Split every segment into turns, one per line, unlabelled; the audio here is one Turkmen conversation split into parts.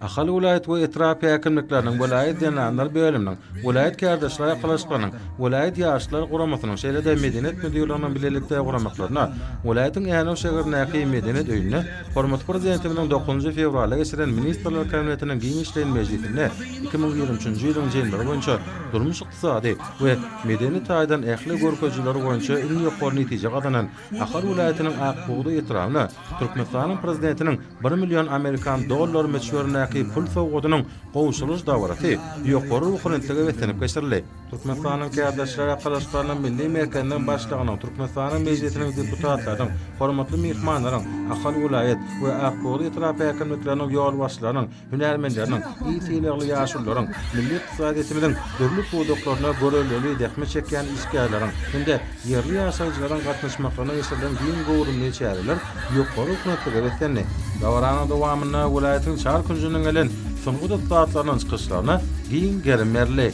Ahal welaýat we etrap häkimlikleriniň, welaýat zenanlar bölüminiň, welaýat kärdeşler arkalaşyklarynyň, welaýat ýaşlar guramasynyň, şeýle-de medeniýet müdirliginiň bilelikde guramaklarynda welaýatyň Änew şäherindäki Medeniýet öýünde hormatly Prezidentimiziň dokuzynjy fewralda geçiren Ministrler Kabinetiniň giňişleýin mejlisinde iki müň ýigrimi üçünji ýylyň jemleri boýunça durmuş-ykdysady we medeni taýdan ähli görkezijiler boýunça iň ýokary netije gazanan Ahal welaýatynyň Ak bugdaý etrabyna Türkmenistanyň Prezidentiniň bir million amerikan dollary möçberindäki pul sowgadynyň gowşurylyş dabarasy ýokary ruhubelentlige beslenip geçirildi. Türkmenistanyň Kärdeşler arkalaşyklarynyň Milli merkeziniň başlygynyň, Türkmenistanyň Mejlisiniň deputatlarynyň, hormatly myhmanlaryň, Ahal welaýat we Ak bugdaý etrap häkimlikleriniň ýolbaşçylarynyň, hünärmenleriniň, il sylagly ýaşulularyň, milli ykdysadyýetimiziň dürli pudaklaryna görelde zähmet çekýän işgärleriň hem-de ýerli ýaşaýjylaryň gatnaşmaklygyna geçirilen giň göwrümli çäreler ýokary hünetlige beslendi. Dabaranyň dowamynda welaýatyň çar künjünden gelen sungat ussatlarynyň çykyşlaryna giň gerim berildi.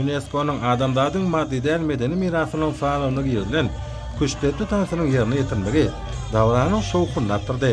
Ýuneskonyň adamzadyň maddy däl medeni mirasynyň sanawyna girilen küştdepdi tansynyň ýerine ýetirilmegi dabaranyň şowhunyny artdyrdy.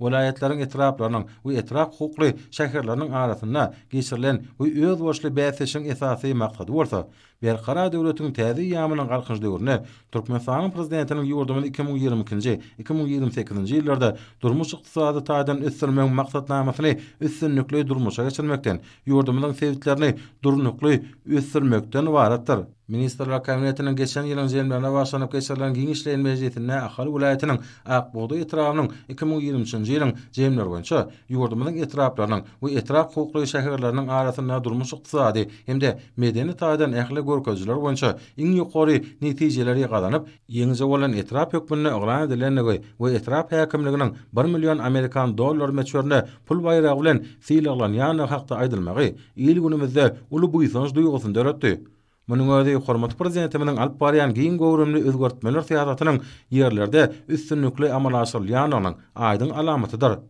welaýatlaryň etraplarynyň we etrap hukukly şäherleriniň arasynda geçirilen we özboluşly bäsleşigiň esasy maksady bolsa, Berkarar döwletiň täze eýýamynyň Galkynyş döwründe Türkmenistanyň Prezidentiniň ýurdumyzy iki müň ýigrimi ikinji, iki müň ýigrimi sekizinji ýyllarda durmuş-ykdysady taýdan ösdürmegiň maksatnamasyny üstünlikli durmuşa geçirmekden, ýurdumyzyň sebitlerini durnukly ösdürmekden ybaratdyr. Ministrler Kabinetiniň geçen ýylyň ženwinde başlanyp geçirilen giňişleýin mejlisinde Ahal welaýatynyň Ak bugdaý etrabynyň iki müň ýigrimi üçünji ýylyň jemleri boýunça ýurdumyzyň etraplarynyň we etrap hukukly şäherleriniň arasynda durmuş-ykdysady hem-de medeni taýdan ähli görkezijiler boýunça iň ýokary netijeleri gazanyp ýeňiji bolan etrap hökmünde yglan edilendigi we etrap häkimliginiň bir million amerikan dollary möçberinde pul baýragy bilen sylaglanýandygy hakda aýdylmagy il-günümizde uly buýsanç duýgusyny döretdi. Munuň özi hormatly Prezidentimiziň alyp barýan giň göwrümli özgertmeler syýasatynyň ýerlerde üstünlikli amala aşyrylýandygynyň aýdyň alamatydyr.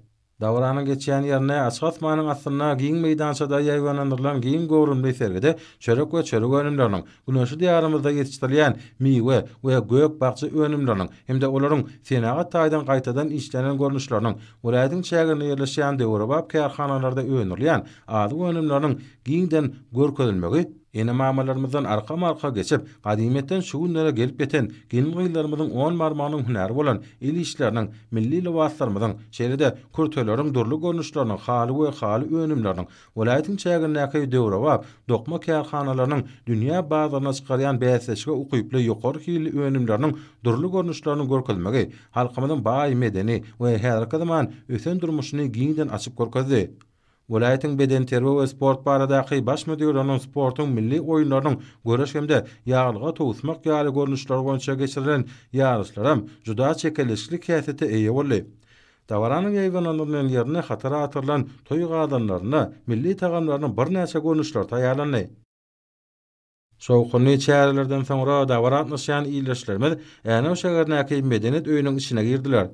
Dabaranyň geçýän ýerinde açyk asmanyň astynda giň meýdançada ýaýbaňlandyrylan giň göwrümli sergide çörek we çörek önümleriniň, Günorta Diýarymyzda ýetişdirilýän miwe we gök-bakja önümleriniň hem-de olaryň senagat taýdan gaýtadan işlenen görnüşleriniň, welaýatyň çäginde ýerleşýän döwrebap kärhanalarda öndürilýän azyk önümleriniň giňden görkezilmegi, ene-mamalarymyzdan arkama-arka geçip, gadymyýetden şu günlere gelip ýeten gelin-gyzlarymyzyň on barmagynyň hünäri bolan el işleriniň, milli lybaslarymyzyň, şeýle-de kürteleriň dürli görnüşleriniň, haly we haly önümleriniň, Welaýatyň çägindäki döwrebap dokma kärhanalarynyň dünýä bazaryna çykarýan bäsleşige ukyply ýokary hilli önümleriniň dürli görnüşlerini görkezmegi halkymyzyň baý medeni we häzirki zaman ösen durmuşyny giňden açyp görkezdi. Welaýatyň bedenterbiýe we sport baradaky Baş müdirliginiň sportuň milli oýunlarynyň göreş hem-de ýaglyga towusmak ýaly görnüşleri boýunça geçirilen ýaryşlaram juda çekeleşikli häsiýete eýe boldy. Dabaranyň ýaýbanandygy bilen ýerine hatara atyrylan toý gazanlarynda milli tagamlarynyň birnäçe görnüşleri taýýarlandy. Şowhunly çärelerden soňra dabara gatnaşýan ildeşlerimiz Änew şäherindäki Medeniýet öýüniň içine girdiler.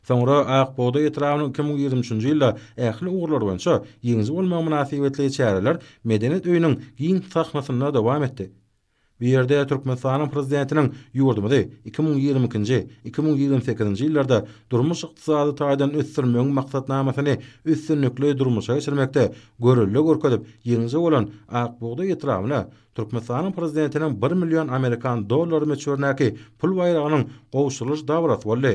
Soňra Ak bugdaý etrabynyň iki müň ýigrimi üçünji ýylda ähli ugurlar boýunça ýeňiji bolmagy mynasybetli çäreler Medeniýet öýüniň giň sahnasynda dowam etdi. Bu ýerde Türkmenistanyň Prezidentiniň ýurdumyzy iki müň ýigrimi ikinji, iki müň ýigrimi sekizinji ýyllarda durmuş-ykdysady taýdan ösdürmegiň maksatnamasyny üstünlikli durmuşa geçirmekde görelde görkezip ýeňiji bolan Ak bugdaý etrabyna Türkmenistanyň Prezidentiniň bir million amerikan dollary möçberindäki pul baýragynyň gowşurylyş dabarasy boldy.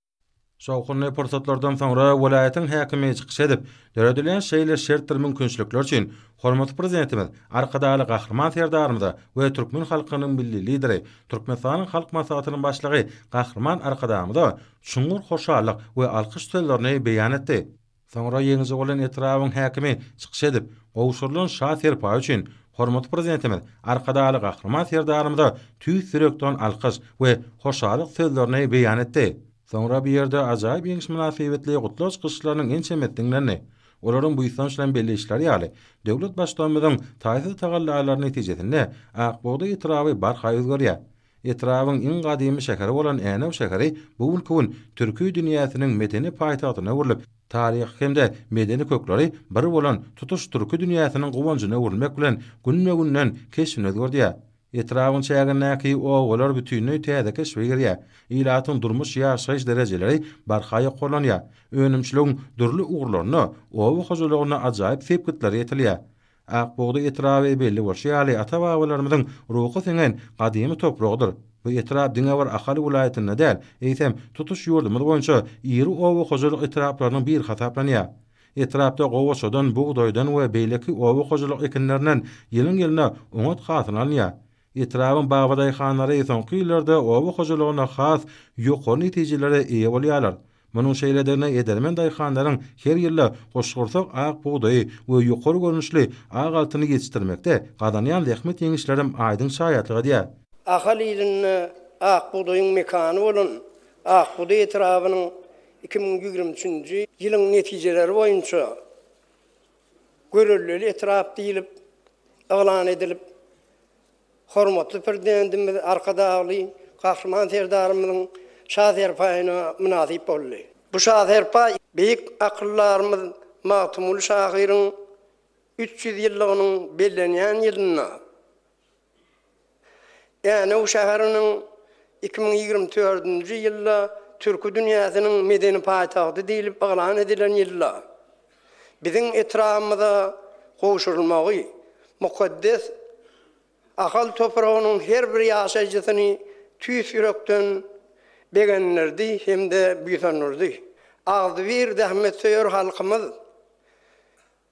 Şowhunly pursatlardan soňra welaýatyň häkimi çykyş edip, döredilen şeýle şert we mümkinçilikler üçin hormatly Prezidentimiz Arkadagly Gahryman Serdarymyza we türkmen halkynyň Milli Lideri, Türkmenistanyň Halk Maslahatynyň Başlygy Gahryman Arkadagymyza çuňňur hoşallyk we alkyş sözlerini beýan etdi. Soňra ýeňiji bolan etrabyň häkimi çykyş edip, gowşurylan şa serpaý üçin hormatly Prezidentimiz Arkadagly Gahryman Serdarymyza tüýs ýürekden alkyş we hoşallyk sözlerini beýan etdi. Soňra bu ýerde ajaýyp ýeňiş mynasybetli gutlag çykyşlarynyň ençemesi diňlendi. Olaryň buýsanç bilen belli edişleri ýaly, döwlet Baştutanymyzyň taýsyz tagallalary netijesinde Akbugdaý etraby barha özgerýär. Etrabyň iň gadymy şäheri bolan Änew şäheri bu günki gün türki dünýäsiniň medeni paýtagtyna öwrülip, taryhy hem-de medeni kökleri bir bolan tutuş türki dünýäsiniň guwanjyna öwrülmek bilen günbe-günden keşbini özgerdýär. Etrabyň çägindäki obalar bütinleý täze keşbe girýär. Ilatyň durmuş-ýaşaýyş derejeleri barha ýokarlanýar. Önümçiligiň dürli ugurlarynda oba hojalygyna ajaýyp sepgitler ýetilýär. Akbugda etraby belli bolşy ýaly ata-babalarymyzyň ruhy siňen gadymy topragydyr. Bu etrap diňe bir Ahal welaýatynda däl, eýsem, tutuş ýurdumyz boýunça iri oba hojalyk etraplarynyň biri hasaplanýar. Etrapda gowaçadan, bugdaýdan we beýleki oba hojalyk ekinlerinden ýylyň-ýylyna oňat hasyl alynýar. Etrabyň babadaýhanlary soňky ýyllarda oba hojalygynda has ýokary netijelere eýe bolýarlar. Munuň şeýledigine edermen daýhanlaryň her ýylda goşgursak ak bugdaýy we ýokary görnüşli ak altyny ýetişdirmekde gazanýan zähmet ýeňişlerem aýdyň şaýatlyk edýär. Ahal ilinde
ak bugdaýyň mekany bolan Akbugdaý etrabynyň iki müň ýigrimi üçünji ýylyň netijeleri boýunça Görellili etrap diýlip yglan edilip, hormatly Prezidentimiz Arkadagly Gahryman Serdarymyzyň şa serpaýyna mynasyp boldy. Bu şa serpa beýik akyldarymyz Magtymguly şahyryň üç ýüz ýyllygynyň bellenýän ýylynda Änew şäheriniň iki müň ýigrimi dördünji ýylda Türki dünýäsiniň medeni paýtagty diýlip yglan edilen ýylda biziň etrabymyza gowşurylmagy mukaddes Ahal topragynyň her bir ýaşaýjysyny tüýs ýürekden begendirdi hem-de buýsandyrdy. Agzybir zähmetsöýer halkymyz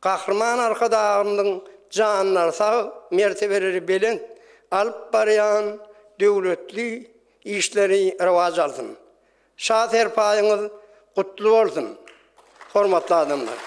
Gahryman Arkadagymyzyň janlary sag, mertebeleri belent, alyp barýan döwletli işleri rowaç alsyn! Şa serpaýyňyz gutly bolsun, hormatly adamlar!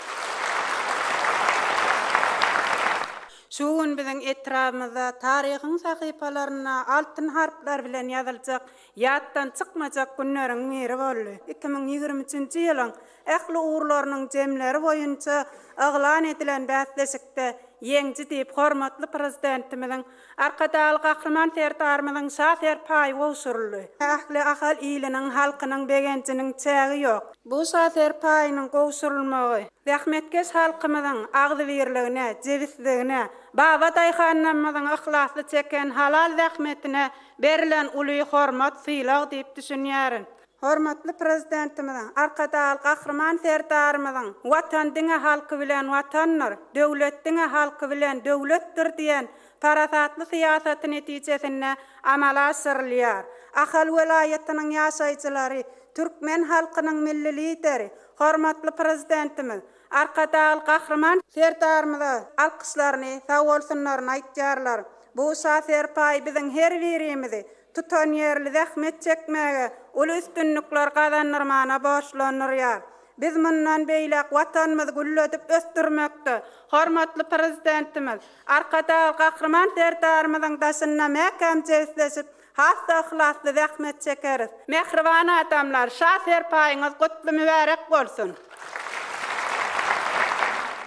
Şu gün biziň etrabymyzda taryhyň sahypalarynda altyn harplar bilen ýazyljak, ýatdan çykmajak günleriň biri boldy. Iki müň ýigrimi üçünji ýylyň Ähli ugurlarynyň jemleri boýunça yglan edilen bäsleşikde ýeňji diýip, hormatly Prezidentimiziň Arkadagly Gahryman Serdarymyzyň şa serpaýy gowşuryldy. Ähli Ahal iliniň, halkynyň begenjiniň çägi ýok. Bu şa serpaýynyň gowşurylmagy zähmetkeş halkymyzyň agzybirligine, jebisligine, baba daýhanlarymyzyň yhlasly çeken halal zähmetine berilen uly hormat, sylag diýip düşünýärin. Hormatly Prezidentimiziň, Arkadagly Gahryman Serdarymyzyň Watan diňe halky bilen Watandyr, döwlet diňe halky bilen döwletdir diýen parasatly syýasaty netijesinde amala aşyrylýar. Ahal welaýatynyň ýaşaýjylary türkmen halkynyň Milli Lideri, hormatly Prezidentimiz, Arkadagly Gahryman. Serdarymyza alkyşlaryny, sagbolsunlaryny aýtýarlar. Bu şa serpaý biziň her birimizi tutanýerli zähmet çekmäge, uly üstünlikler gazandyrmana borçlandyrýar. Biz mundan beýläk Watanymyzy gülledip ösdürmekde hormatly Prezidentimiz, Arkadagly Gahryman Serdarymyzyň daşynda mäkäm jebisleşip, has-da yhlasly zähmet çekeris. Mähriban adamlar, şa serpaýyňyz gutly mübärek bolsun!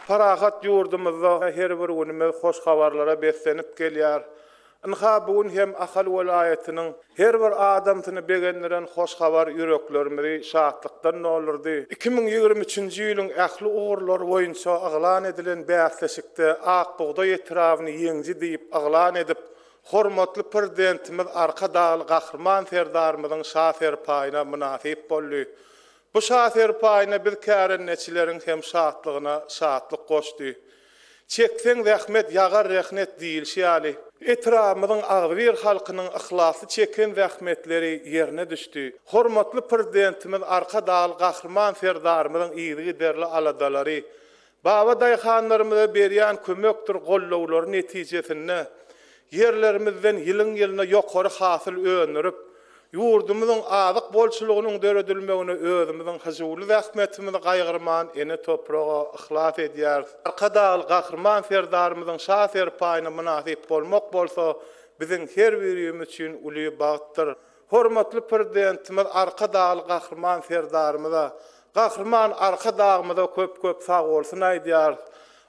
Parahat ýurdumyzda her bir günümiz hoş habarlara beslenip gelýär. Ynha, bu gün hem Ahal welaýatynyň her bir adamsyny begendiren hoş habar ýüreklerimizi şatlykdan doldurdy. Iki müň ýigrimi üçünji ýylyň ähli ugurlary boýunça yglan edilen bäsleşikde Ak bugdaý etrabyny ýeňiji diýip yglan edip, hormatly Prezidentimiz Arkadagly Gahryman Serdarymyzyň şa serpaýyna mynasyp boldy. Bu şa serpaýyna biz kärendeçileriň hem şatlygyna şatlyk goşdy. Çekseň zähmet, ýagar rehnet diýilşi ýaly, etrabymyzyň agzybir halkynyň yhlasly çeken zähmetleri ýerine düşdi. Hormatly Prezidentimiz Arkadagly Gahryman Serdarymyzyň yzygiderli aladalary, baba daýhanlarymyza berýän kömekdir gollawlary netijesinde ýerlerimizden ýylyň-ýylyna ýokary hasyl öndürip, Ýurdumyzyň azyk bolçulygynyň döredilmegine özümiziň hyjuwly zähmetimizi gaýgyrman ene topraga yhlas edýäris. Arkadagly Gahryman Serdarymyzyň şa serpaýyna mynasyp bolmak bolsa biziň her birimiz üçin uly bagtdyr. Hormatly Prezidentimiz Arkadagly Gahryman Serdarymyza, Gahryman Arkadagymyza köp-köp sagbolsun aýdýarys.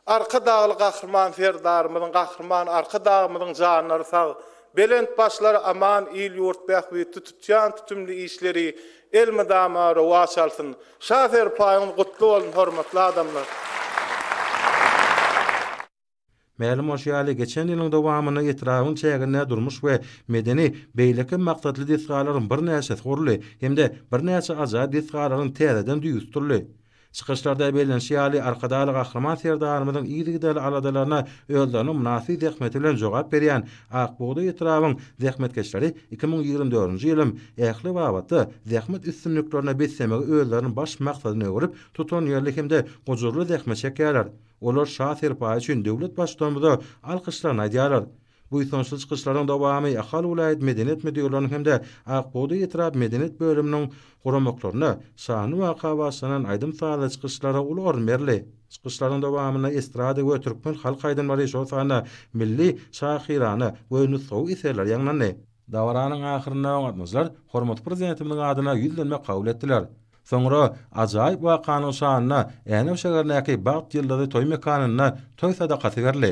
Arkadagly Gahryman Serdarymyzyň Gahryman Arkadagymyzyň janlary sag, belent başlary aman il-ýurt bähbitli tutýan tutumly işleri elmydama rowaç alsyn! Şa serpaýyňyz gutly bolsun hormatly adamlar!
Mälim bolşy ýaly, geçen ýylyň dowamynda etrabyň çäginde durmuş we medeni, beýleki maksatly desgalaryň birnäçesi guruldy hem-de birnäçe ajaýyp desgalaryň täzeden düýbi tutuldy. Çykyşlarda bellenişi ýaly, Arkadagly Gahryman Serdarymyzyň yzygiderli aladalaryna özleriniň mynasyp zähmeti bilen jogap berýän Ak bugdaý etrabyň zähmetkeşleri iki müň ýigrimi dördünji ýylym ähli babatda zähmet üstünliklerine beslemegi özleriniň baş maksadyna öwrüp, tutanýerli hem-de gujurly zähmet çekýärler. Olar Şa serpaýy üçin döwlet Baştutanymyza alkyşlaryny aýdýarlar. Buýsançly çykyşlaryň dowamy Ahal welaýat medeniýet müdirliginiň hem-de Ak bugdaý etrap medeniýet bölüminiň guramaklarynda şanly waka bagyşlanan aýdym-sazly çykyşlara uly orun berildi. Çykyşlaryň dowamynda estrada we türkmen halk aýdymlary, şol sanda milli, şahyrana we nusgawy eserler ýaňlandy. Dabaranyň ahyrynda gatnaşyjylar hormatly Prezidentimiziň adyna ýüzlenme kabul etdiler. Soňra ajaýyp wakanyň şanyna Änew şäherindäki Bagt ýyldyzy toý mekanynda toý sadakasy berildi.